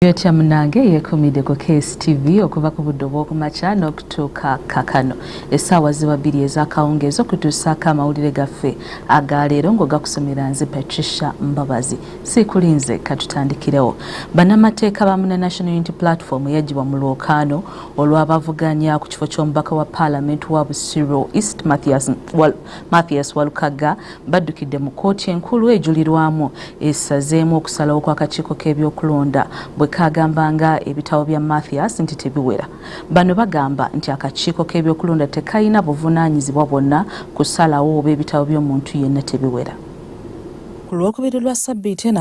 Yotya munange yekumide ku KSTV okuva ku budde obw'okumakya n'okutuuka kakano essaawa ziba bbiri ez'akawungeezi okutuusaako amawulire gaffe aga leero ng'ogakusomera nze Patricia Mbabazi siikulinze katutandikirewo bannamateeka ba muna National Unity Platform yagibwa mu lwokaano olw'abavuganya ku kifo ky'omubaka wa paalamenti wa Busiro East Mathias, Wal Mathias Walukagga baddukidde mu kkooti enkulu ejulirwamu esazeemu okusalawo kw'akakiiko k'ebyokulonda bwe kaagamba nga ebitabo bya mathias nti tebiwera bano bagamba nti akakiiko k'ebyokulonda tekalina buvunaanyizibwa bwonna kusalawo oba ebitabo by'omuntu yenna tebiwera ku lwokubiri lwa sabbiiti eno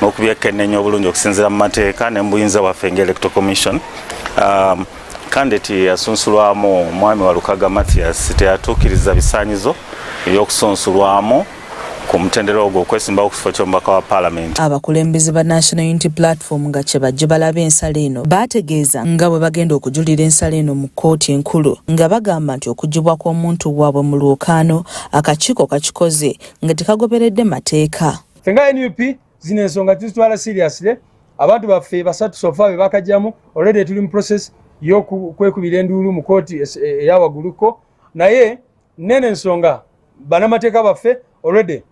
n'okubyekennenya obulungi okusinziira mu mateeka ne mu buyinza bwaffe nga electoral commission um, kandidate yasunsulwamu omwami wa lukaga mathias teyatuukiriza bisaanyizo eby'okusunsulwamu ku mutendera ogwo okwesimbawo ku kifo ky'omubaka wa paalamenti abakulembeze ba national unity platform nga kye bajje balaba ensala eno baategeeza nga bwe bagenda okujulira ensala eno mu kkooti enkulu nga bagamba nti okugibwa kw'omuntu waabwe mu lwokaano akakiiko kakikoze nga tekagoberedde mateeka fenga nup zino ensonga tuzitwala seriously abantu baffe basatu sofa bebakajjamu already tuli mu process yokwekubira enduulu mu kooti e, eyawaguluko naye nene ensonga banamateeka baffe already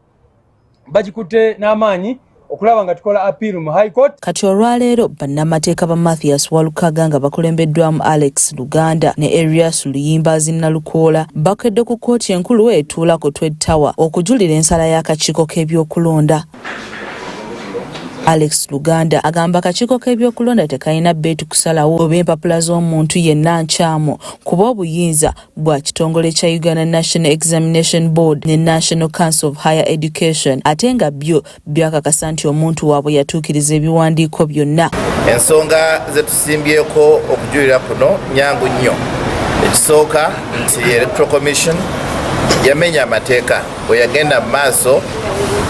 bagikutte n'amaanyi okulaba nga tukola appeal mu high court Kati olwaleero bannamateeka ba Mathias Walukaga nga bakulembeddwamu Alex Luganda ne Erias Luyimbaazi Nalukoola bakedde ku kkooti enkulu etuula ku Twed Tower okujulira ensala y'akakiiko k'ebyokulonda. Alex Luganda agamba akakiiko k'ebyokulonda tekalina beetu kusalawo oba empapula z'omuntu yenna nkyamu kuba obuyinza bwa kitongole kya Uganda National Examination Board ne National Council of Higher Education ate nga byo byakakasa nti omuntu waabwe yatuukiriza ebiwandiiko byonna. Ensonga ze tusimbyeko okujulira kuno nyangu nnyo. Ekisooka nti Electoral Commission yamenya amateeka bwe yagenda mu maaso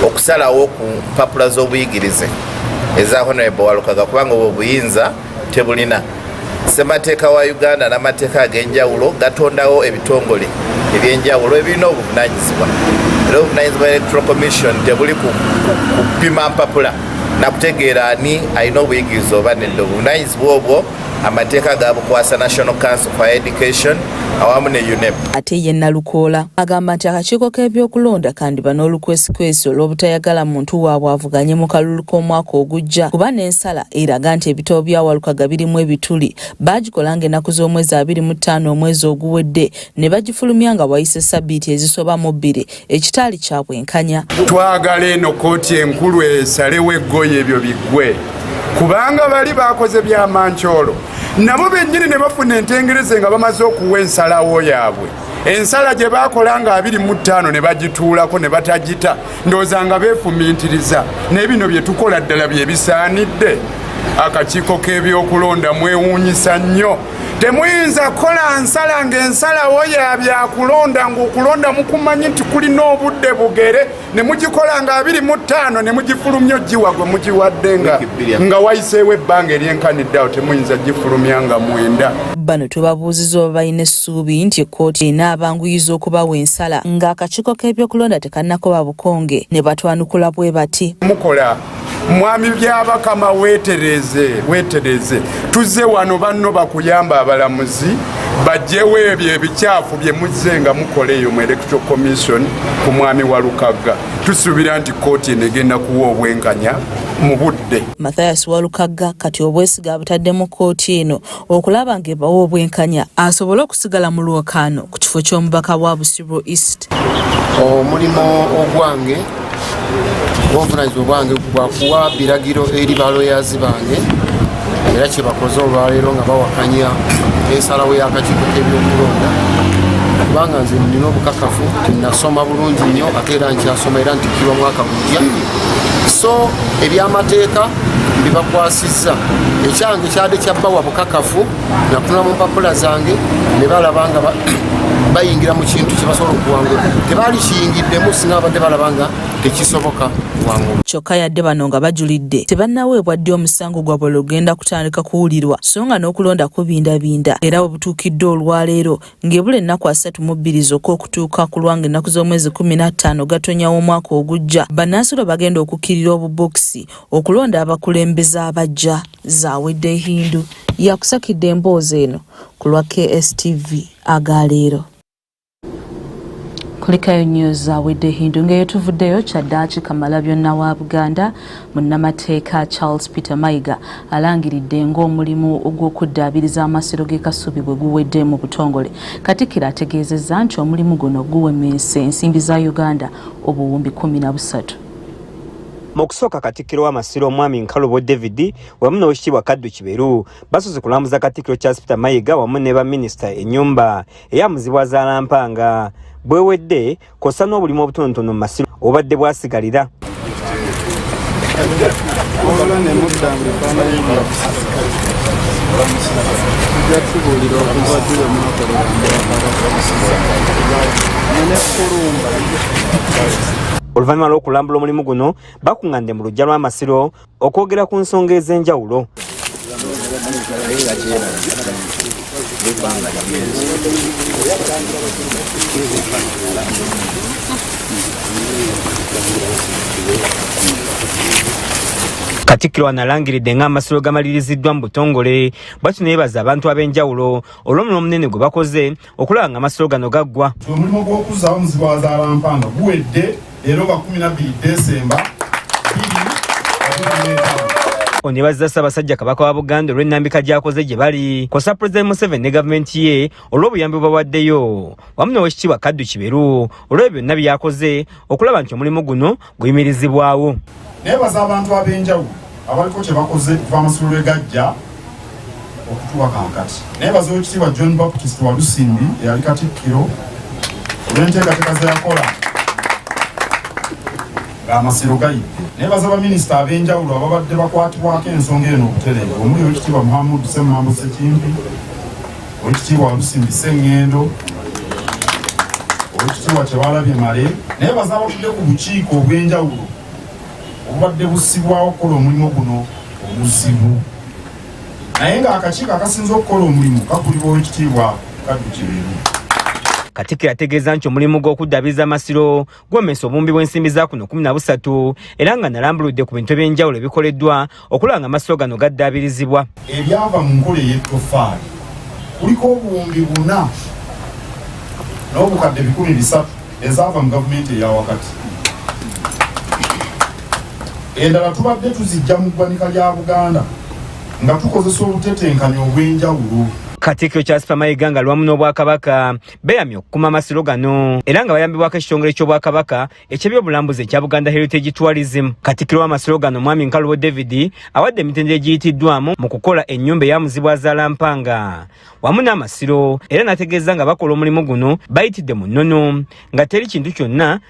okusalawo ku mpapula z'obuyigirize eza Honorable Walukaga kubanga obwo obuyinza tebulina ssemateeka wa uganda n'amateeka ag'enjawulo gatondawo ebitongole ebyenjawulo ebirina obuvunanyizibwa era obuvunanyizibwa electoral commission tebuli kupima mpapula nakutegeera ani alina obuyigiriza oba nedda obuvunanyizibwa obwo amateeka gabukwasa national council for education awamu ne unep ate ye nalukoola agamba nti akakiiko k'ebyokulonda kandiba n'olukwesikwesi olw'obutayagala muntu waabwe avuganye mu kalulu k'omwaka ogujja kuba Ensala eraga nti ebitabo bya Walukaga birimu ebituli baagikola ng'ennaku z'omwezi abiri mu ttaano omwezi oguwedde ne bagifulumya nga wayise ssabbiiti ezisoba mu bbiri ekitaali kya bwenkanya. Twagala eno kkooti enkulu esalewo eggoye ebyo biggwe kubanga bali baakoze bya mancoolo nabo bennyini ne bafuna entengereze nga bamaze okuwa ensalawo yaabwe ensala gye baakola nga abiri mu ttaano ne bagituulako ne batagita ndowooza nga beefumiitiriza naye bino bye tukola ddala bye bisaanidde akakiiko k'ebyokulonda mwewuunyisa nnyo temuyinza kukola nsala ng'ensalawo ya byakulonda ng'okulonda mukumanyi nti kulina obudde bugere ne mugikola nga abiri mu ttaano ne mugifulumya ogiwa gwe mugiwadde nga nga wayiseewo ebbanga eryenkaniddeawo temuyinza gifulumya nga mwenda bano tubabuuziza oba balina essuubi nti ekkooti enaabanguyiza okubawa ensala ng'akakiiko k'ebyokulonda tekannakoba bukonge ne batwanukula bwe bati mukola mwami byabakama wetereze wetereze tuzze wano banno bakuyamba abalamuzi bajjewo ebyo ebikyafu bye muzze nga mukola eyo mu electro commission ku mwami wa lukagga tusuubira nti kkooti eno egenda kuwa obwenkanya mu budde mathias walukagga kati obwesiga abutadde mu kkooti eno okulaba ng'ebawa obwenkanya asobole okusigala mu lwokaano ku kifo ky'omubaka wa Busiro East. Omulimu ogwange obuvunanyizibwa bwange gwakuwa biragiro eri baloyazi bange era kyebakoze olwaleero nga bawakanya ensalawo y'akakiiko k'ebyokulonda kubanga nze nina obukakafu nasoma bulungi nnyo ate era nkyasoma era ntikirwa mwaka gujja so ebyamateeka bibakwasa kisa ekyange kyade kyabawa bukakafu natunula mu mpapula zange ne balaba nga bayingira mu kintu kyebasobola okuwangula tebaali kiyingiddemu singa babadde balaba nga tekisoboka kuwangula kyokka yadde bano nga bajulidde tebannaweebwa ddi omusango gwabwe lugenda kutandika kuwulirwa so nga n'okulonda kubindabinda era bwe butuukidde olwaleero ng'ebula ennaku asatu mu bbiri zokka okutuuka ku lwanga ennaku z'omwezi kumi n'attaano gatonya w'omwaka ogujja bannansi bagenda okukkirira obubokisi okulonda abakulembeze abajja zawedde ehindu yakusakidde emboozi eno ku lwa kstv agaleero kulikayo news zawedde ehindu ng'eyo tuvuddeyo kyaddaaki kamala byonna wa buganda munnamateeka charles peter mayiga alangiridde ng'omulimu gw'okuddaabiriza amasiro g'e kasubi bwe guwedde mu butongole katikkiro ategeezezza nti omulimu guno guwemeese ensimbi za uganda obuwumbi 13 mu kusooka katikkiro w'amasiro omwami nkalubo david wamu n'owekitiibwa kaddu kiberu basoose kulambuza katikkiro charles peter mayiga wamu ne baminisita ennyumba eyamuzibwa zaalampanga bwewedde kwossa n'obulimu obutonotono mu masiro obadde bwasigalira oluvannyuma lw'okulambula omulimu guno bakung'ande mu lujja lw'amasiro okwogera ku nsonga ez'enjawulo katikkiro analangiridde ng'amasiro gamaliriziddwa mu butongole bwakino yebaza abantu ab'enjawulo olw'omulimu omunene gwe bakoze okulaba nga amasiro gano gaggwa omulimu gw'okuzzaawo omuzigo wa zaalampanga guwedde leero lwa 12 desemba onebazza ssaabasajja kabaka wa buganda olw'ennambika gy'akoze gye bali kosa pulezidenti museveni ne gavumenti ye olw'obuyambi bwebawaddeyo wamu n'owekitiibwa kaddu kiberu olw'ebyo byonna by'akoze okulaba nti omulimu guno buyimirizibwawo. Nebaza abantu ab'enjawulo abaliko kye bakoze okuva amasomero lwe gajja okutuwa kankati. Nebaza Oweekitiibwa John Baptist Walusimbi eyali Katikkiro olw'enteekateeka ze yakola ng'amasiro gayidde. Nebaza baminisita ab'enjawulo ababadde bakwatibwako ensonga eno obutereevu omuli Oweekitiibwa Muhammad Ssemambo Ssekimpi Owekitiibwa Walusimbi Sengendo, Owekitiibwa Kyewalabye Male, naye baza abatudde ku bukiiko obw'enjawulo obubadde busibwawo okukola omulimu guno omuzibu naye ng'akakiiko akasinza okukola omulimu kakulibwa owekitiibwa kaddu kiberu katikiro ategeeza nti omulimu gw'okuddabiza amasiro gomesa obumbi bw'ensimbi za kuno kumi na busatu era nga nalambuludde ku bintu eby'enjawulo ebikoleddwa okulaba nga amasiro gano gaddaabirizibwa ebyava mu nkola ey'ettofaali kuliko obuwumbi buna n'obukadde bikumi bisatu ezaava mu gavumenti eya wakati endala tubadde tuzijja mu ggwanika lya buganda nga tukozesa obutetenkanya obw'enjawulo katikkiro charles pamayiga nga lwamu n'obwakabaka beyamye okukuma amasiro gano era nga bayambibwako ekitongole ky'obwakabaka eky'ebyobulambuzi ekya buganda heritage tourism katikiro w'amasiro gano mwami nkalubo david awadde emitendera egiyitiddwamu mu kukola ennyumba eya muzibu azaala mpanga wamu n'amasiro era n'ategeeza nga bakola omulimu guno bayitidde mu nnono nga teri kintu kyonna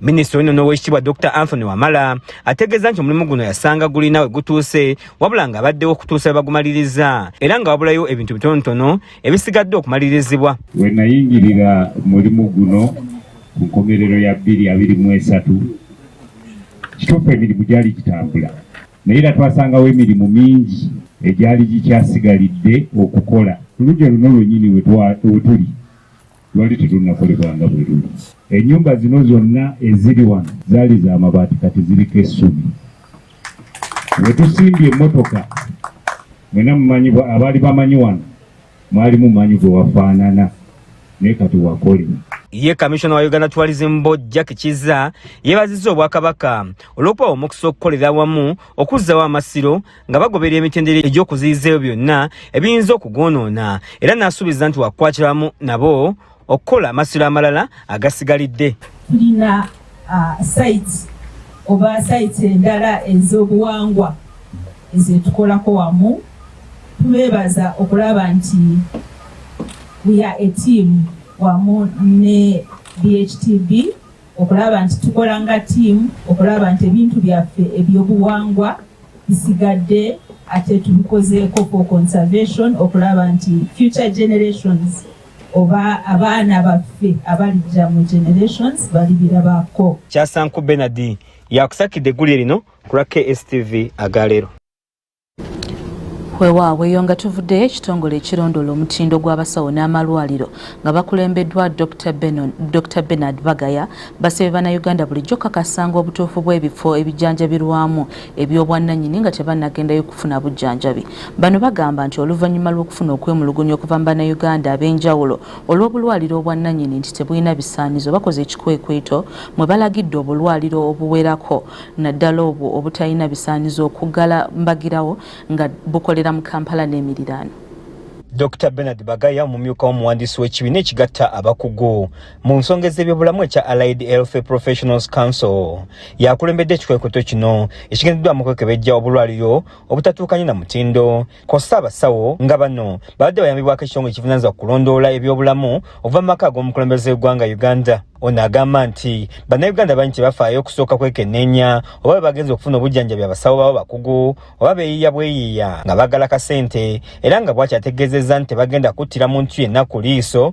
Minisita ono n'owekitibwa Dr Anthony Wamala ategeeza nti omulimu guno yasanga gulina we gutuuse wabula nga abaddewo okutuusa webagumaliriza era nga wabulayo ebintu bitonotono ebisigadde okumalirizibwa. We nayingirira mulimu guno ku nkomerero ya bbiri abiri mu esatu kituufu emirimu gyali gitambula naye era twasangawo emirimu mingi egyali gikyasigalidde okukola ku lugi oluno lwenyini wetuli Lwali terunnakolebwa nga bwe luli. Ennyumba zino zonna eziri wano zaali za mabaati kati ziriko essubi. We tusimbye emmotoka mwena mumanyi abaali bamanyi wano mwalimu manyi gwe wafaanana naye kati wakole ye kamissiona wa uganda tourism board jack kiza yeebazizza obwakabaka olw'okubawa omukisa okukolera awamu okuzzawo amasiro nga bagoberera emitendera egy'okuziyiza ebyo byonna ebiyinza okugwonoona era n'asuubiza nti wakukwatiramu nabo okukola amasiro amalala agasigalidde tulina uh, site oba site endala ez'obuwangwa ezetukolako wamu tubeebaza okulaba nti we are a team wamu ne bhtb okulaba nti tukola nga ttiimu okulaba nti ebintu byaffe ebyobuwangwa bisigadde ate tubikozeeko for conservation okulaba nti future generations oba abaana baffe abalijja mu generations balibirabaako kyasanku benard yakusakidde eggulire lino ku lwa kstv agaleero weewaawo eyo nga tuvuddeyo ekitongole ekirondoola omutindo gw'abasawo n'amalwaliro nga bakulembeddwa dr benard bagaya basabye bannayuganda bulijjo kakasanga obutuufu bw'ebifo ebijanjabirwamu eby'obwannanyini nga tebanagendayo kufuna bujjanjabi bano bagamba nti oluvannyuma lw'okufuna okwemulugunya okuva mu bannayuganda ab'enjawulo olw'obulwaliro obwannanyini nti tebulina bisaanizo bakoze ekikwekweto mwe balagidde obulwaliro obuwerako naddala obwo obutalina bisaanyizo okuggala mbagirawo nga bukolera mu kampala n'emiriraano dr benard bagaya omumyuka w'omuwandiisi w'ekibiina ekigatta abakugu mu nsonga ez'ebyobulamu ekya allied health professionals council yakulembedde ekikwekweto kino ekigendeddwamu okwekebejja obulwaliro obutatuukanye na mutindo kw'ossa abasawo nga bano babadde bayambibwako ekitongole ekivunanyizibwa ku kulondoola ebyobulamu okuva mu maka ag'omukulembeze w'eggwanga uganda ono agamba nti bannayuganda bangi tebafaayo okusooka kwekenneenya oba bwe bagenza okufuna obujjanjabi abasawo babo bakugu oba beeyiiya bweyiiya nga baagala kasente era nga bwakyategeezezza nti tebagenda kuttira muntu yenna ku liiso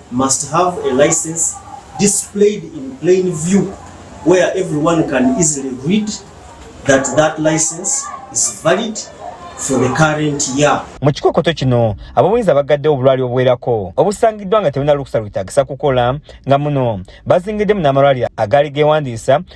must have a license displayed in plain view where everyone can easily read that that license is valid for the current year. Mu kikokoto kino ab'obuyinza bagadde obulwali obuwerako obusangiddwa nga tebulina lukusa lwetaagisa kukola nga muno bazingiddemu n'amalwaliro agaali geewandiisa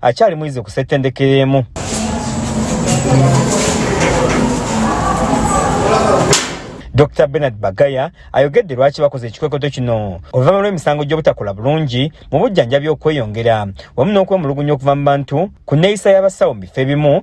akyali muyizi ku ssettendekero emu dr benard bagaya ayogedde lwaki bakoze ekikwekoto kino oluvannyuma lw'emisango gy'obutakola bulungi mu bujjanjabi okweyongera wamu n'okwemulugunya okuva mu bantu ku nneeyisa y'abasawo mu bifo ebimu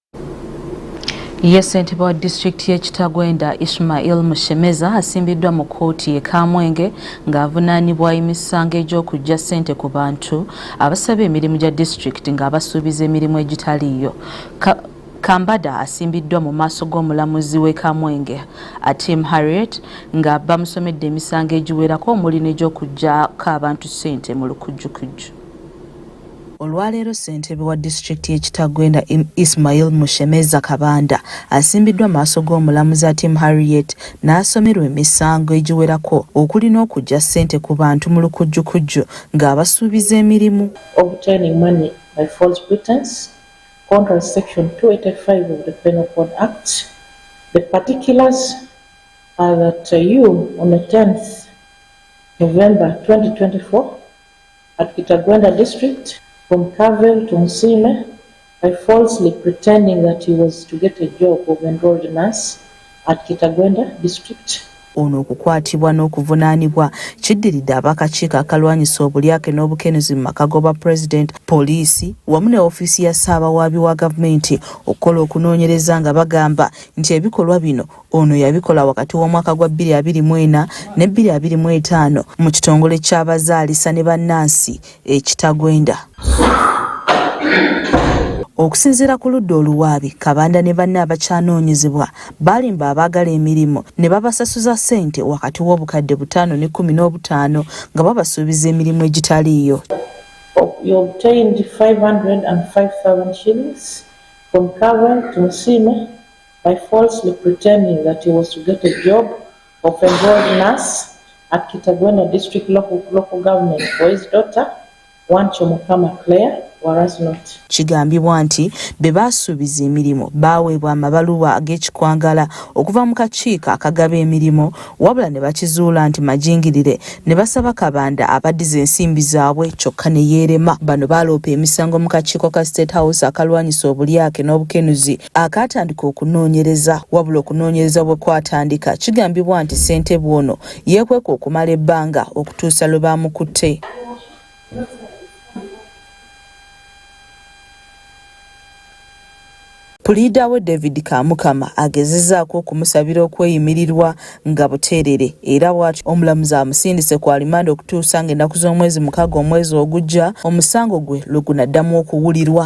ye ssentebe wa disitulikiti y'e kitagwenda ishmail mushemeza asimbiddwa mu kkooti e kamwenge ng'avunaanibwa emisango egy'okujja ssente ku bantu abasaba emirimu gya disitulikiti ng'abasuubiza emirimu egitaliiyo kambada asimbiddwa mu maaso g'omulamuzi w'e kamwenge atim harriet nga bamusomedde emisango egiwerako omuli n'egy'okugyako abantu ssente mu lukujjukujju Olwaleero ssentebe wa disitulikiti y'e Kitagwenda Ismail Mushemeza Kabanda asimbiddwa maaso g'omulamuzi Atim Harriet n'asomerwa emisango egiwerako okuli n'okuggya ssente ku bantu mu lukujjukujju ng'abasuubiza emirimu. Obtaining money by false pretense, contrary to section 285 of the Penal Code Act, the particulars are that uh, you on the 10th November 2024 At Kitagwenda district, from Carville to Nsiime, by falsely pretending that he was to get a job of enrolled nurse at Kitagwenda district. ono okukwatibwa n'okuvunaanibwa kiddiridde abakakiiko akalwanyisa obulyake n'obukenuzi mu maka goba pulezidenti poliisi wamu ne ofiisi ya ssaabawaabi wa gavumenti okukola okunoonyereza nga bagamba nti ebikolwa bino Ono yabikola wakati w'omwaka gwa bbiri abiri mu ena ne bbiri abiri mu etaano mu kitongole ky'abazaalisa ne bannansi e Kitagwenda. Okusinziira ku ludda oluwaabi, Kabanda ne banne abakyanoonyezebwa baalimba abaagala emirimu ne babasasuza ssente wakati w'obukadde butaano n'ekkumi n'obutaano nga babasuubiza emirimu egitaliiyo. by falsely pretending that he was to get a job of a board nurse at Kitagwena district local, local government for his daughter Wancho Mukama Claire kigambibwa nti be baasuubiza emirimu baaweebwa amabaluwa ag'ekikwangala okuva mu kakiiko akagaba emirimu wabula ne bakizuula nti majingirire ne basaba kabanda abaddiza ensimbi zaabwe kyokka ne yeerema bano baaloopa emisango mu kakiiko ka state house akalwanyisa obulyake n'obukenuzi akaatandika okunoonyereza wabula okunoonyereza bwe kwatandika kigambibwa nti ssentebe ono yeekweka okumala ebbanga okutuusa lwe baamukutte Puliida we David Kamukama agezezaako okumusabira okweyimirirwa nga buteerere era bwatyo omulamuzi amusindise ku alimanda okutuusa nga ennaku z'omwezi mukaga omwezi ogujja omusango gwe lwe gunaddamu okuwulirwa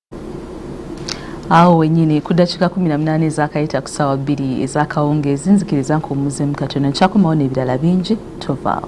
awo wenyini ku ddakiika kumi na munaana ezakayita ku ssaawa bbiri ezakawungeezi nzikiriza nkuwumuzemu katono nkyakomawo n'ebirala bingi tovaawo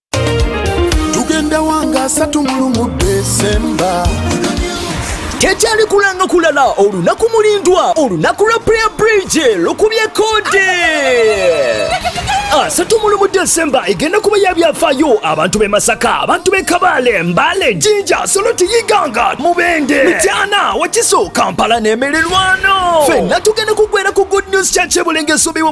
tugenda wanga asatu mulumu desemba tekyali kulanga kulala olunaku mulindwa olunaku lwa prayer bridge lukubye kode asatu ah, mu desemba egenda kuba ya byafaayo abantu b'e masaka abantu b'e kabaale mbale jinja soloti yiganga mubende mityana wakiso kampala n'emererwano fenna tugenda kugwera ku good news church ebulenga esuubiwa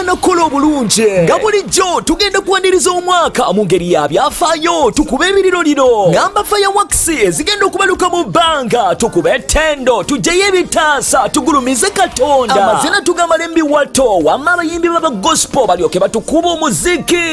nokukola obulungi nga bulijjo tugenda kuwaniriza omwaka mu ngeri ya byafaayo tukube ebiriro lino ngamba fireworks ezigenda okubaluka mu bbanga tukube ettendo tujjeyo ebitaasa tugulumize katonda amazina tugamala embiwato wamma abayimbi baba gospel balyoke batukuba omuziki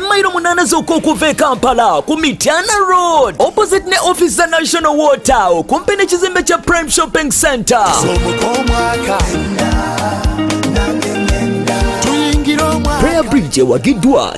mayiro munaana zokka okuva e kampala ku mityana road opposite ne office za national water okumpi n'ekizimbe kya prime shopping center prayer bridge ewagiddwa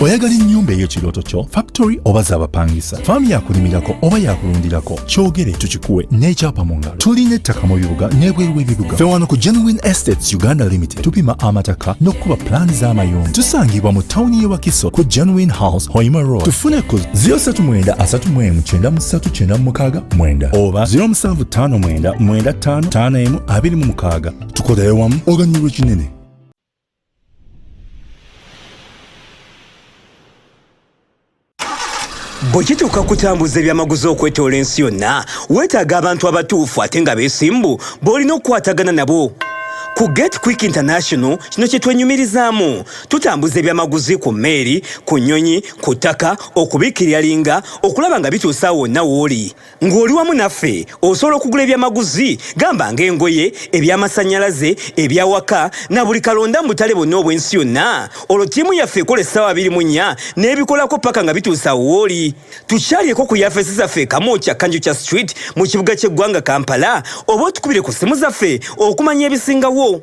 oyagala ennyumba eyo kirooto kyo factory oba zabapangisa faamu yakulimirako oba yakulundirako kyogere tukikuwe n'ekyapa mu ngalo tulina ettaka mu bibuga n'ebweru w'ebibuga fe wano ku genuine estates uganda limited tupima amataka n'okukuba pulaani z'amayumba tusangibwa mu tawuni y'e wakiso ku genuine house hoima road tufune ku 039 oba 0759 95 25 26 tukolere wamu oganyulwa kinene bwe kituuka kutambuza ebyamaguzi okwetoola ensi yonna weetaaga abantu abatuufu ate nga beesimbu b'olina okukwatagana nabo ku get quick international kino kye twenyumirizaamu tutambuza ebyamaguzi ku mmeeri ku nnyonyi ku ttaka okubikkirira linga okulaba nga bituusa wonna wooli Ng'oli wamu naffe osobola okugula ebyamaguzi gamba ng'engoye, ebyamasannyalaze, ebyawaka na buli kalonda mu butale bwonna obw'ensi yonna. Olwo ttiimu yaffe ekola essaawa abiri mu nnya n'ebikolako paka nga bituuse awo wooli. Tukyalyeko ku yafeesi zaffe e Kamwokya Kanjukya Street mu kibuga ky'eggwanga Kampala oba otukubire ku ssimu zaffe okumanya ebisingawo.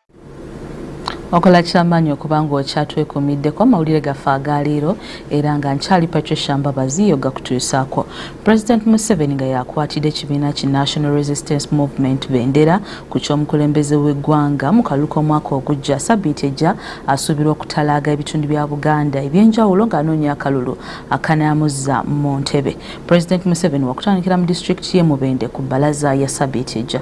okola kyamaanyi okuba ng'okyatwekuumiddeko amawulire gaffe agaaliiro era nga nkyali patricia mbabazi yo gakutuusaako president museveni nga yakwatidde ekibiina ki national resistance movement bendera ku ky'omukulembeze w'eggwanga mu kalulu k'omwaka ogujja sabiiti ejja asuubirwa okutalaaga ebitundu bya buganda eby'enjawulo ng'anoonya akalulu akanayamuzza mu ntebe president museveni wakutandikira mu disitulikiti ye mubende ku bbalaza ya sabiiti ejja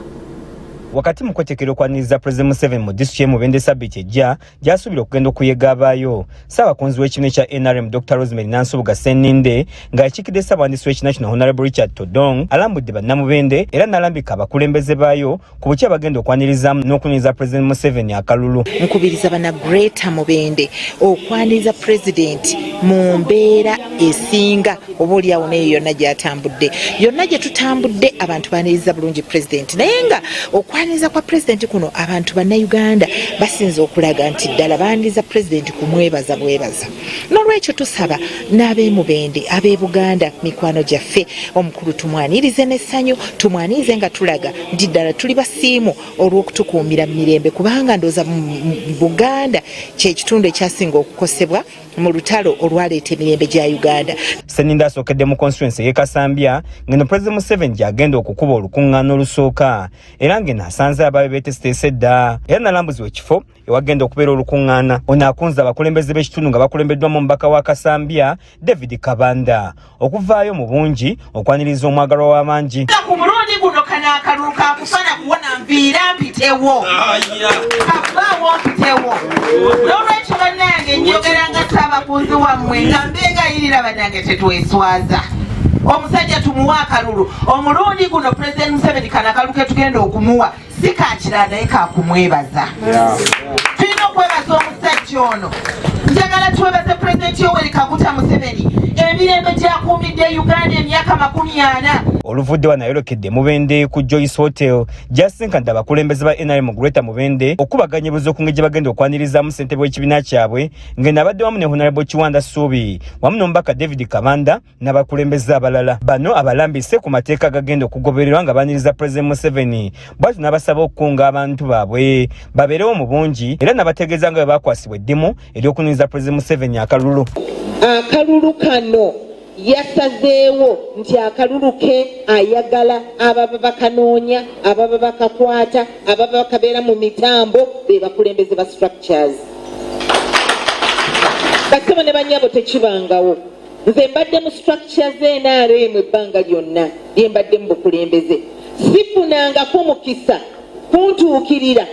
wakati mu kwetekera okwaniriza president museven mu disitulikiti ye mubende sabiti ejja gyasuubira okugenda okuyega abaayo ssaabakunzi w'ekibiina ekya nrm dr rosemary nansubuga seninde nga yakiikidde ssaabawandiisi w'ekibiina kino honorable richard todong alambudde bannamubende era n'alambika abakulembeze baayo ku bukya bagenda okwanirizaamu n'okuniriza president museven akalulu nkubiriza bana greater mubende okwaniriza president mu mbeera esinga oba olyawo naye yonna gyatambudde yonna gye tutambudde abantu baniriza bulungi pulezidenti naye nga okwaniriza kwa pulezidenti kuno abantu bannayuganda basinza okulaga nti ddala baniriza pulezidenti kumwebaza bwebaza n'olwekyo tusaba n'abemubende ab'ebuganda mikwano gyaffe omukulu tumwanirize n'essanyu tumwanirize nga tulaga nti ddala tuli basiimu olw'okutukuumira mu mirembe kubanga ndooza buganda kyekitundu ekyasinga okukosebwa mu lutalo olwaleeta emirembe gya uganda seninda asookedde mu constituency ye kasambya ngeno president museven gyagenda okukuba olukuŋŋaana olusooka era ngeno asanze abaabe beteseteese dda era nalambuzibwa ekifo ewagenda okubeera olukuŋŋaana ono akunze abakulembeze b'ekitundu nga bakulembeddwamu omubaka wa kasambya david kabanda okuvaayo mu bungi okwaniriza omwagalwa w'abangi ku mulundi guno kano akalulu kakufana kuwona nviira mpitewo kavaawo mpitewo n'olwekyo bannange njogera nga saabakunzi wammwe nga mbegayirira bannange tetweswaza omusajja tumuwa akalulu omulundi guno pulezidenti museveni kano akalulu ketugenda okumuwa si kakirala naye kakumwebaza tulina okwebaza omusajja ono njagala twebaze pulezidenti yoweri kaguta museveni emirembe gyakuumidde uganda emyaka makumi ana oluvudde wa nayolekedde mubende ku joyce hotel gyasinkanda abakulembeze ba nrm greater mubende okubaganya ebuza okunge gye bagenda okwanirizaamu ssentebe w'ekibiina kyabwe ng'eno abadde wamu ne honarable kiwanda suubi wamu n'omubaka david kabanda n'abakulembeze abalala bano abalambise ku mateeka agagenda okugobererwa nga baniriza pulezidenti museveni bwati n'abasaba okukunga abantu baabwe babeerewo mu bungi era nabategeeza nga bwe bakwasibwa eddimu ery'okuniriza pulezidenti museveni akalulu akalulu kano yasazeewo nti akalulu ke ayagala ababa bakanoonya ababa bakakwata ababa bakabeera mu mitambo be bakulembeze ba structures basebo ne banyabo tekibangawo nze mbadde mu structure ze nrm ebbanga lyonna lye mbadde mu bukulembeze sifunangako mukisa kuntuukirira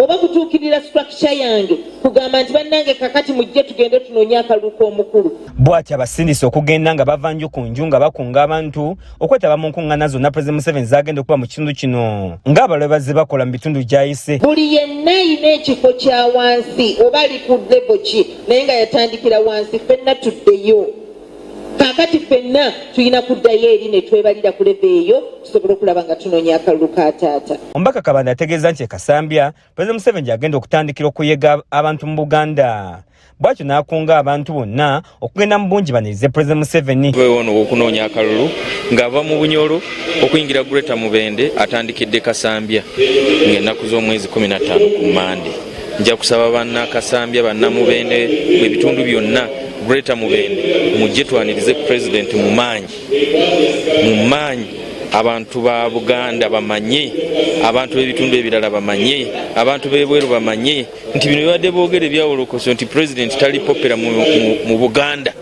oba kutuukirira structure yange kugamba nti bannange kakati mujje tugende tunoonye akalulu k'omukulu bw'atyo abasindise okugenda nga bava nju ku nju nga bakunga abantu okwetaba mu nkuŋŋaana zonna pulezidenti museveni zagenda okuba mu kitundu kino ng'abalabe bazze bakola mu bitundu gyayise buli yenna yina ekifo kya wansi oba ali ku lebo ki naye nga yatandikira wansi fenna tuddeyo kakati fenna tulina kuddayo eri ne twebalira ku lebo eyo tusobole okulaba nga tunoonya akalulu ka taata omubaka kabanda ategeeza nti ekasambya pulezidenti museveni gyagenda okutandikira okuyega abantu mu buganda bwatyo n'akunga abantu bonna okugenda mu bungi banirize pulezidenti museveni ono okunoonya akalulu ng'ava mu bunyolo okuyingira greta mubende atandikidde kasambya ng'ennaku z'omwezi 15 ku mande nja kusaba banna kasambya bannamubende ebitundu byonna greta mubende mujje twanirize pulezidenti mu maanyi mu maanyi abantu ba buganda bamanye abantu b'ebitundu ebirala bamanye abantu b'ebweru bamanye nti bino bibadde boogera ebyawolokoso nti pulezidenti tali popera mu buganda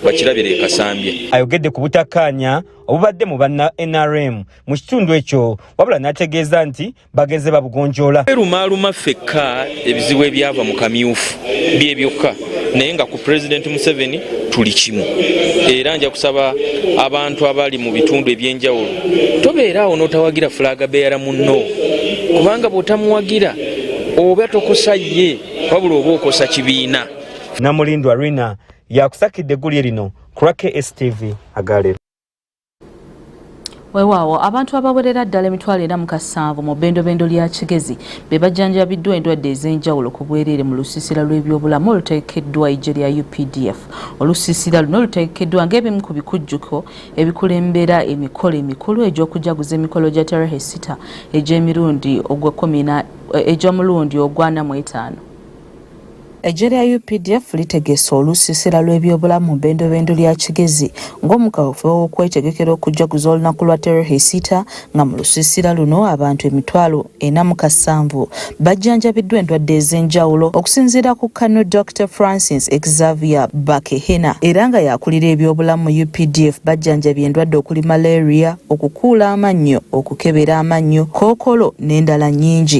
bakirabira ekasambye ayogedde ku butakkaanya obubadde mu banna nrm mu kitundu ekyo wabula n'ategeeza nti bagenze babugonjoola erumaaluma ffekka ebizibu ebyava mu kamyufu bye byokka naye nga ku pulezidenti museveni tuli kimu era nja kusaba abantu abali mu bitundu ebyenjawulo tobeeraawo n'otawagira fulaga beera munno kubanga bw'otamuwagira oba tokosa ye wabula oba okosa kibiina namulindwa rina yakusakidde eggulye lino kurake stv agalero Wewaawo abantu abawerera ddala emitwalo ena mu kasanvu mu bendobendo lya Kigezi be bajjanjabiddwa endwadde ez'enjawulo ku bwereere mu lusiisira lw'ebyobulamu olutegekeddwa eggye lya UPDF. Olusiisira luno lutegekeddwa ng'ebimu ku bikujjuko ebikulembera emikolo emikulu egy'okujaguza emikolo gya Terehe Sita egy'emirundi egy'omulundi ogw'ana mu etaano. Eggye lya updf litegese olusiisira lw'ebyobulamu mu bendobendo lya Kigezi ng'omu kaweefube w'okwetegekera okujjaguza olunaku lwa Terehisiita nga mu lusiisira luno abantu emitwalo ena mu kasanvu bajjanjabiddwa endwadde ez'enjawulo okusinziira ku Kano Dr Francis Xavier Bakehena era nga yakulira ebyobulamu mu updf bajjanjabye endwadde okuli malaria, okukuula amannyo, okukebera amannyo, kookolo n'endala nnyingi.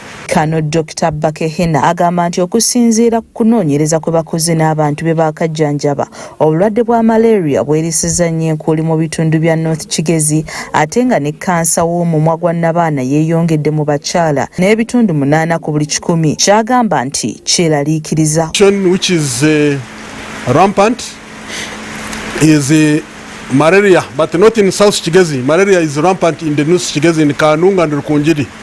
Kano Dokita Bakehena agamba nti okusinziira ku kunoonyereza kwe bakoze n'abantu be baakajjanjaba, obulwadde bwa malaria bwerisiza nnyo enkuuli mu bitundu bya North Kigezi ate nga ne kkansa w'omumwa gwa nnabaana yeeyongedde mu bakyala n'ebitundu munaana ku buli kikumi ky'agamba nti kyeraliikiriza. Malaria, but not in South Kigezi. Malaria is rampant in the North Kigezi, in Kanunga and Rukungiri.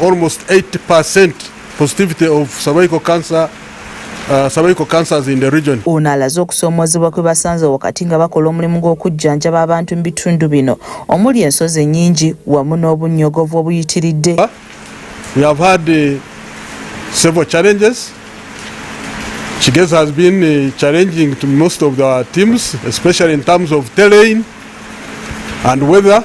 Almost 80% positivity of cervical cancer Uh, cervical cancers in the region. Ono alaze okusoomoozebwa kwe basanze wakati nga bakola omulimu gw'okujjanjaba abantu mu bitundu bino omuli ensozi ennyingi wamu n'obunnyogovu obuyitiridde. We have had uh, several challenges Chigez has been uh, challenging to most of our teams, especially in terms of terrain and weather.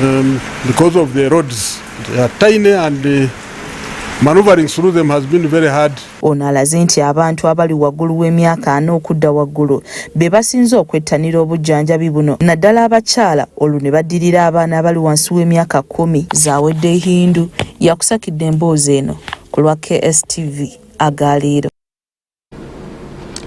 um, because of the roads they are tiny and uh, maneuvering through them has been very hard ono alaze nti abantu abali waggulu w'emyaka ana okudda waggulu be basinze okwettanira obujjanjabi buno naddala abakyala olwo ne baddirira abaana abali wansi w'emyaka kumi zawedde hindu yakusakidde emboozi eno ku lwa kstv agaliiro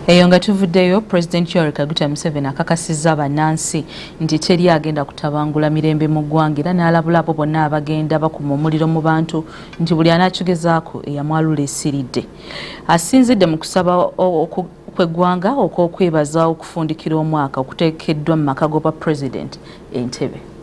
eyo nga tuvuddeyo president yoweri kaguta museveni akakasizza bannansi nti teri agenda kutabangula mirembe mu ggwanga era n'alabula abo bonna abagenda bakuma omuliro mu bantu nti buli anaakigezaako eyamwalula esiridde asinzidde mu kusaba kweggwanga okw'okwebaza okufundikira omwaka okuteekeddwa mu maka g'obwa president entebe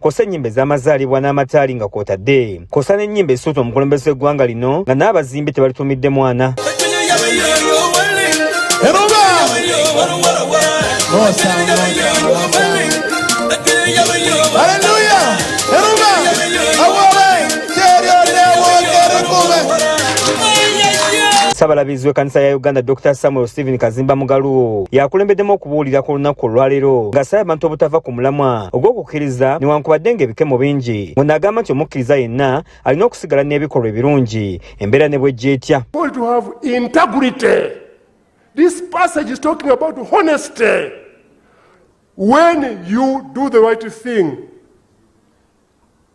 kosa ennyimba ez'amazaalibwa n'amataali nga kwotadde kosa n'ennyimba ezisuuta omukulembeze w'eggwanga lino nga n'abazimbi tebalituumidde mwana Ssabalabizi w'ekkanisa ya Uganda Dr Samuel Stephen Kazimba Mugalu yakulembeddemu okubuulira ku lunaku olwaleero ng'asaba abantu obutava ku omulamwa ogw'okukkiriza newankubadde ng'ebikemo bingi muno agamba nti omukkiriza yenna alina okusigala n'ebikolwa ebirungi embeera ne bwejja etya This passage is talking about honesty. When you do the right thing,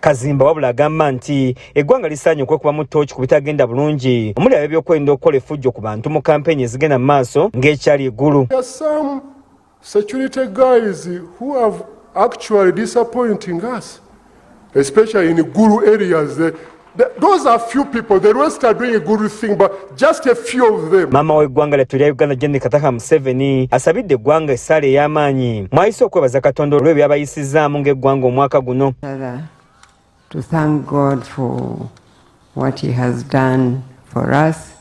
Kazimba wabula agamba nti eggwanga lisaanye okwekubamu ttooki ku bitagenda bulungi omuli ab'ebyokwerinda okukola effujjo ku bantu mu kampeyini ezigenda mu maaso ng'ekyali eggulu security guys who have actually disappointing us especially in guru areas the, the, those are few people the rest are doing a good thing but Just a few of them. Mama we gwanga letu lya Uganda Janet Kataha Museveni asabidde gwanga esale ey'amaanyi mwayise okwebaza Katonda olwe byabayisizaamu ng'eggwanga omwaka guno. To thank God for what he has done for us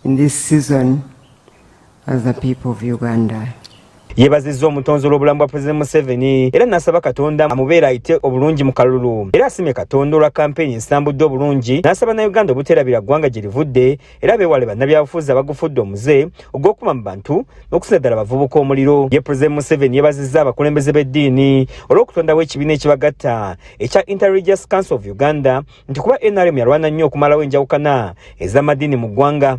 in this season as the people of Uganda. yebazizza omutonzi olw'obulamu bwa president museveni era n'asaba katonda amubeera ayite obulungi mu kalulu era asimye katonda olwa kampeyini ensambudde obulungi n'asaba na uganda obuteerabira ggwanga gye livudde era beewale bannabyabufuzi abagufudde omuze ogw'okuma mu bantu n'okusinza ddala abavubuka omuliro ye president museveni yebazizza abakulembeze b'eddiini olw'okutondawo ekibiina ekibagatta ekya interreligious council of uganda nti kuba nrm yalwana nnyo okumalawo enjawukana ez'amadiini mu ggwanga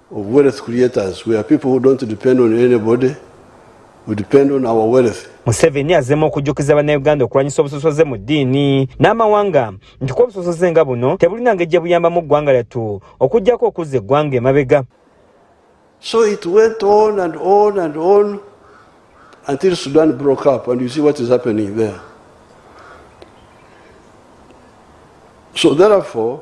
of wealth creators we are people who don't depend on anybody we depend on our wealth museveni azemu okujjukiza bannayuganda okulwanyisa obusosoze mu ddiini n'amawanga nti kuba obusosoze nga buno tebulina ngeri gye buyambamu eggwanga lyattu okuggyako okuzza eggwanga emabega so it went on and on and on until sudan broke up and you see what is happening there so therefore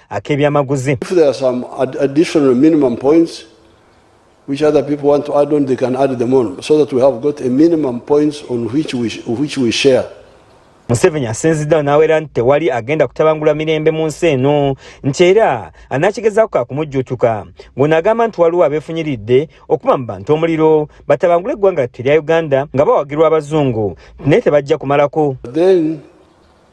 ak'ebyamaguzi which other people want to add on, they can add them on so that we have got a minimum points on which we, which we share. Museveni asinziddewo n'awera nti tewali agenda kutabangula mirembe mu nsi eno nti era anaakigezaako ka kumujjuutuka ng'ono agamba nti waliwo abeefunyiridde okuba mu bantu omuliro batabangule eggwanga lyattu erya uganda nga bawagirwa abazungu naye tebajja kumalako Then,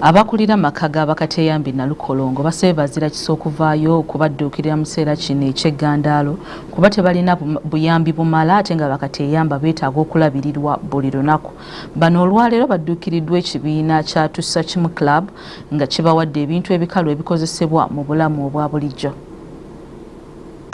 Abakulira amaka ga bakateyambi Nalukolongo basabye bazira kisa okuvaayo okubadduukirira mu kiseera kino eky'eggandaalo kuba tebalina buyambi bumala ate nga bakateyamba beetaaga okulabirirwa buli lunaku. Bano olwaleero badduukiriddwa ekibiina kya Tussa Kimu Club nga kibawadde ebintu ebikalu ebikozesebwa mu bulamu obwa bulijjo.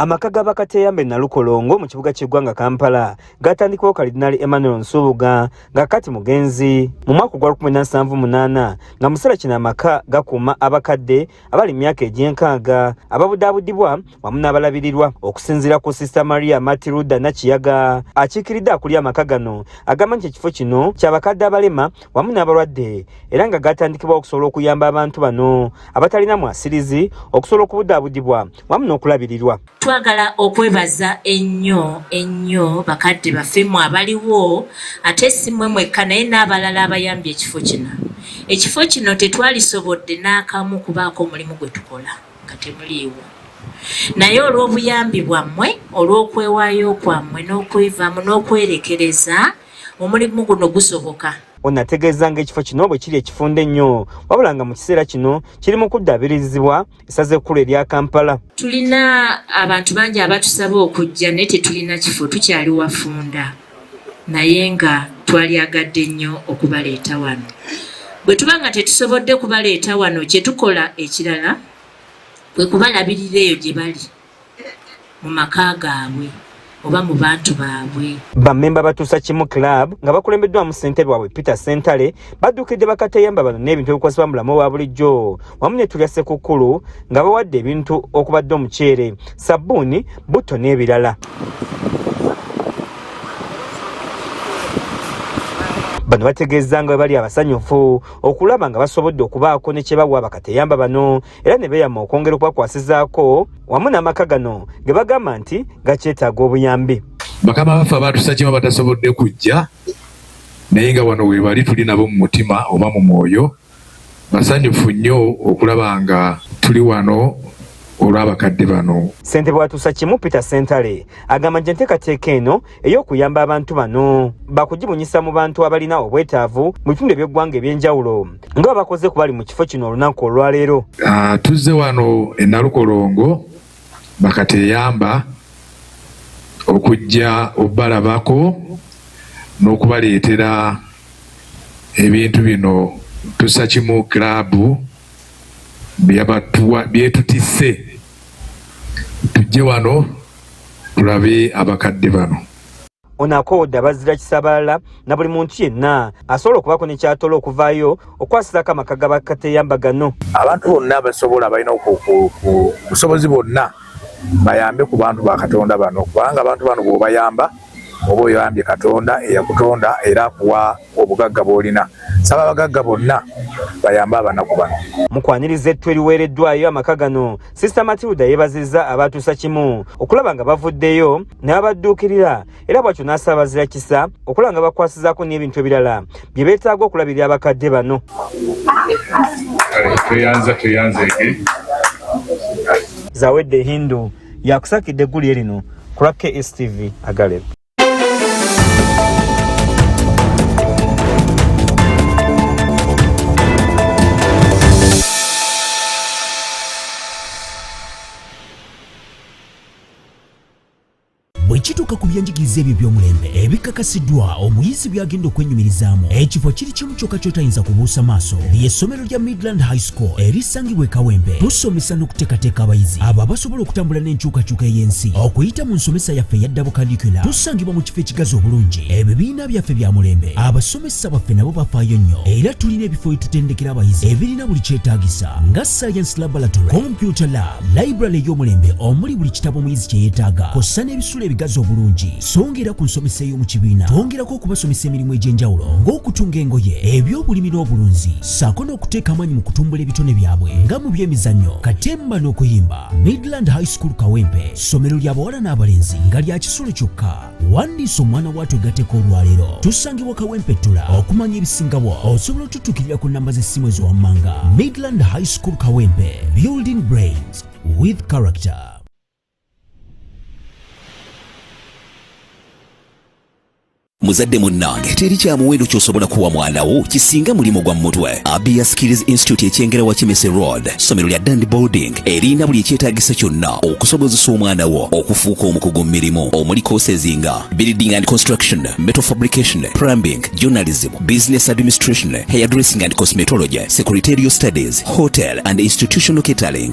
Amaka ga bakateyambe Nalukolongo mu kibuga ky'eggwanga Kampala gaatandikwawo Kalidinaali Emmanuel Nsubuga nga kati mugenzi mu mwaka ogwa 1978 nga museera kino amaka gakuuma abakadde abali mu myaka egy'enkaaga ababudaabudibwa wamu n'abalabirirwa okusinziira ku sista maria matiruda nakiyaga akiikiridde akulya amaka gano agamba nti ekifo kino kyabakadde abalema wamu n'abalwadde era nga gatandikibwa okusobola okuyamba abantu bano abatalina mwasirizi okusobola okubudaabudibwa wamu n'okulabirirwa Twagala okwebaza ennyo ennyo bakadde baffe mmwe abaliwo ate si mmwe mwekka naye n'abalala abayambye ekifo kino. Ekifo kino tetwalisobodde n'akamu kubaako omulimu gwe tukola nga temuliiwo. Naye olw'obuyambi bwammwe, olw'okwewaayo kwammwe n'okwevaamu n'okwerekereza, omulimu guno gusoboka. Ono ategeeza ng'ekifo kino bwe kiri ekifunda ennyo wabula nga mu kiseera kino kiri mu kuddaabirizibwa essaza ekkulu erya kampala tulina abantu bangi abatusaba okujja naye tetulina kifo tukyali wafunda naye nga twalyagadde nnyo okubaleeta wano bwe tuba nga tetusobodde kubaleeta wano kyetukola ekirala kwe kubalabirira eyo gye bali mu maka gaabwe oba mu bantu baabwe. Bammemba batuusa kimu club nga bakulembeddwamu ssentebe waabwe Peter Ssentale badduukidde bakateyamba bano n'ebintu ebikozesebwa mu bulamu obwa bulijjo wamu ne tulya Ssekukkulu nga bawadde ebintu okubadde omuceere, sabbuuni, butto n'ebirala. bano bategeezza nga bwe bali abasanyufu okulaba nga basobodde okubaako ne kye bawa bakateyamba bano era ne beeyama okwongera okubakwasizaako wamu n'amaka gano ge bagamba nti gakyetaaga obuyambi bakama baffe abaatusakima batasobodde kujja naye nga wano webali tuli nabo mu mutima oba mu mwoyo basanyufu nnyo okulaba nga tuli wano olw'abakadde bano ssentebe watuusa kimu peter sentale agamba nti enteekateeka eno ey'okuyamba abantu bano bakugibunyisa mu bantu abalina obwetaavu mu bitundu eby'eggwanga eby'enjawulo nga babakoze ku bali mu kifo kino olunaku olwaleero ah, tuzze wano e nalukolongo bakateyamba okujja obalabako n'okubaleetera ebintu bino tusa kimu kiraabu byetutisse tujje wano tulabe abakadde bano ono akoodde abazira kisabalala na buli muntu yenna asobola okubako nekyatola okuvaayo okwasirako amaka ga bakateyamba gano abantu bonna basobola balina obusobozi bonna bayambe ku bantu ba katonda bano kubanga abantu bano bwobayamba Oba oyambye Katonda eyakutonda era akuwa obugagga bw'olina, saba abagagga bonna bayambe abanaku bano. Mu kwaniriza ettu eriweereddwayo amaka gano, Sister Matilda yeebazizza abaatuusa kimu okulaba nga bavuddeyo n'abadduukirira era bw'atyo n'asaabazira kisa okulaba nga bakwasizaako n'ebintu ebirala bye beetaaga okulabirira abakadde bano. Tweyanza tweyanzeege. Zawedde Hindu. yakusakidde eggulire lino ku lwa KSTV Agaleb. ekituuka ku byenjigiriza ebyo by'omulembe ebikakasiddwa omuyizi by'agenda okwenyumirizaamu ekifo kiri kimu kyokka kyotayinza kubuusa maaso ly'essomero ya Midland High School erisangibwa e Kawembe tusomesa n'okuteekateeka abayizi abo abasobola okutambula n'enkyukakyuka ey'ensi okuyita mu nsomesa yaffe eya dabo kalikula tusangibwa mu kifo ekigazi obulungi ebibiina byaffe bya mulembe abasomesa baffe nabo bafaayo nnyo era tulina ebifo ebitutendekera abayizi ebirina buli kyetaagisa nga science laboratory computer lab library ey'omulembe omuli buli kitabo omuyizi kye yeetaaga kossa n'ebisu ebisitula ebigazi obulungi songa era ku nsomesa ey'omu kibiina twongerako okubasomesa emirimu egy'enjawulo ng'okutunga engoye eby'obulimi n'obulunzi ssaako n'okuteeka amaanyi mu kutumbula ebitone byabwe nga mu by'emizannyo katemba n'okuyimba midland high school kawempe ssomero ly'abawala n'abalenzi nga lya kisulo kyokka wandiisa omwana waatu egateko olwaleero tusangibwa kawempettula okumanya ebisingawo osobola otutukirira ku namba z'essimu eziwammanga midland high school kawempe building brains with character muzadde munnange teri kya muwendo ky'osobola kuwa mwana wo kisinga mulimu gwa mutwe abia skills institute ekyengera wa kimese road ssomero lya dandi boarding erina buli ekyetaagisa kyonna okusobozesa omwana wo okufuuka omukugu mu mirimu omuli courses nga building and construction metal fabrication plumbing journalism business administration hairdressing and cosmetology secretarial studies hotel and institutional catering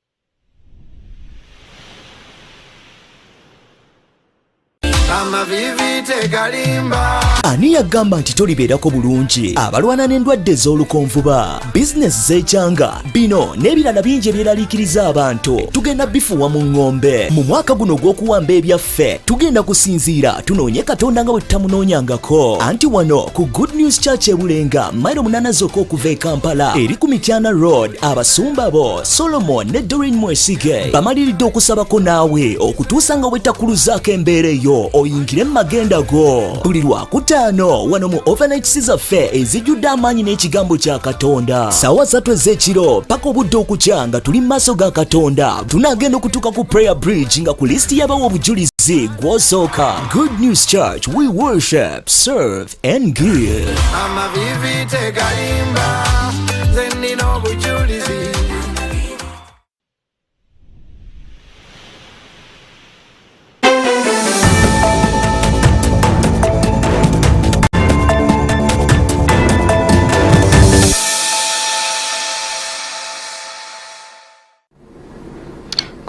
amavivi tegalimba ani yagamba nti tolibeerako bulungi abalwana n'endwadde ez'olukonvuba bizinesi z'ekyanga bino n'ebirala bingi ebyeraliikiriza abantu tugenda bifuwa mu ŋŋombe mu mwaka guno ogw'okuwamba ebyaffe ffe tugenda kusinziira tunoonye katonda nga bwe tutamunoonyangako anti wano ku good news church ebulenga mairo munaana zokka okuva e kampala eri ku mityana road abasumba bo solomon ne dorin mwesige bamaliridde okusabako naawe okutuusa nga bwetakuluzaako embeera eyo oyingire mu magenda go buli lwakutaano wano mu overnightsi zaffe ezijjudde amaanyi n'ekigambo kya katonda saawa zattu ez'ekiro paka obudde okukya nga tuli mu maaso ga katonda tunagenda okutuuka ku prayer bridge nga ku lisiti yabawa obujulizi gwosooka good news church we worship serve and give amavivi tegalimba zenina obujulizi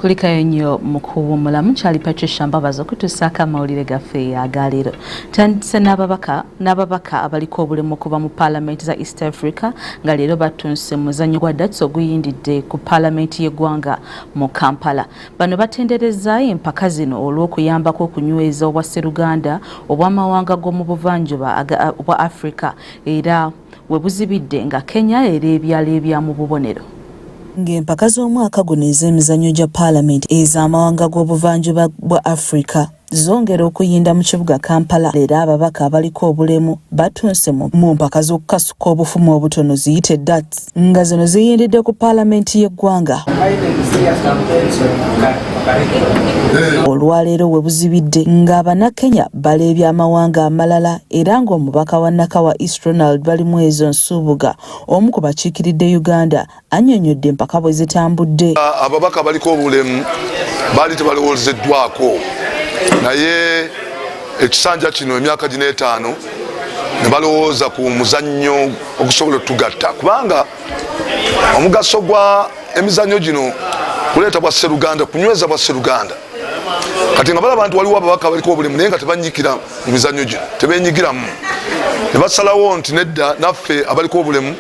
kulikayo nnyo mu kuwummula mukyali patricia mbabazi okutuusaako amawulire gaffe agaleero tandise n'ababaka abaliko obulemu okuva mu paalamenti za east africa nga leero batunse muzanyo gwa dats oguyindidde ku paalamenti y'eggwanga mu kampala bano batendereza empaka zino olw'okuyambako okunyweza obwa sseruganda obw'amawanga g'omu buvanjuba obwa africa era we buzibidde nga Kenya era ebyalo ebya mu bubonero. Ng'empaka z'omwaka guno ez'emizannyo gya Palamenti ez'amawanga g'obuvanjuba bwa Afrika zongera okuyinda mu kibuga Kampala era ababaka abaliko obulemu batunse mu mpaka z'okukasuka obufumu obutono ziyite dats nga zino ziyindidde ku Palamenti y'eggwanga. olwaleero webuzibidde nga banakenya bala eby'amawanga amalala era ng'omubaka wa Nakawa East Ronald Balimwezo Nsubuga omu ku bakiikiridde Uganda annyonnyodde empaka bwe zitambudde. Ababaka baliko obulemu baali tebalowoozeddwako naye ekisanja kino emyaka gino etaano ne balowooza ku muzannyo okusobola otugatta kubanga omugaso gwa emizannyo gino kuleeta bwa sseruganda kunyweza bwa sseruganda kati nga balaba nti waliwo ababaka baliko obulimu naye nga tebanyikira mu mizanyo gino tebenyigiramu ne basalawo nti nedda naffe abaliko obulemu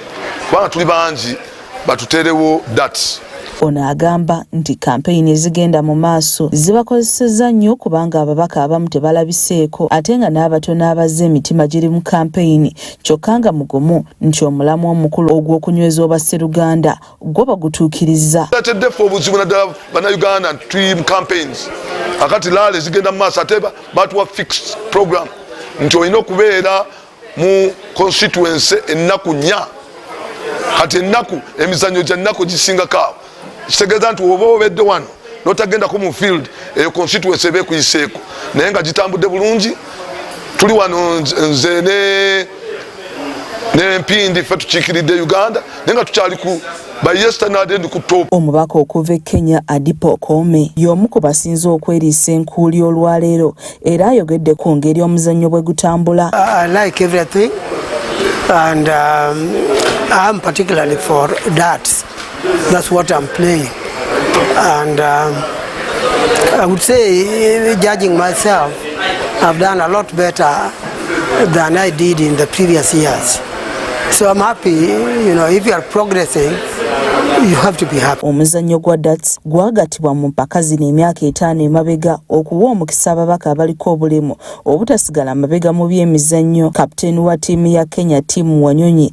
kubanga tuli bangi batuteerewo dat ono agamba nti kampeyini ezigenda mu maaso zibakozesezza nnyo kubanga ababaka abamu tebalabiseeko ate nga n'abatono abazze emitima giri mu kampeyini kyokka nga mugumu nti omulamwa omukulu ogw'okunyweza obwa sseruganda gwo bagutuukirizza. Tuleetedde ffe obuzibu naddala bannayuganda tuli mu campaigns akati laale zigenda mu maaso ate batuwa fixed program nti olina okubeera mu constituency ennaku nnya kati ennaku emizannyo gya nnaku gisingako awo kitegeeza nti oba obedde wano notagendako mu field eyo constituency eba ekuyiseeko naye nga gitambudde bulungi tuli wano nze ne nempindi ffe tukiikiridde uganda naye nga tukyali ku omubaka okuva e kenya adipa okoome y'omu ku basinze okweriisa enkuuli olwaleero era ayogedde ku ngeri omuzannyo bwe gutambula That's what I'm playing. And um, I would say, judging myself, I've done a lot better than I did in the previous years. So I'm happy, you know, if you are progressing, you have to be happy. Omuzannyo gwa darts gwagatibwa mu mpaka zino emyaka etaano emabega okuwa omukisa ababaka abaliko obulemu obutasigala mabega mu by'emizannyo. Kapiteeni wa ttiimu ya Kenya Tim Wanyonyi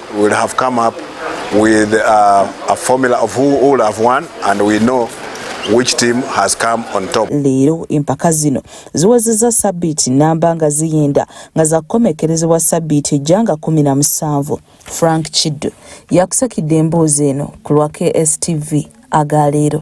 We'll have come up with uh, a formula of who all have won and we know which team has come on top. Leero empaka zino ziwezezza sabbiiti namba nga ziyinda nga zakukomekerezebwa sabbiiti ejja nga kumi na musanvu. Frank Kiddu yakusakidde emboozi eno ku lwa KSTV aga leero.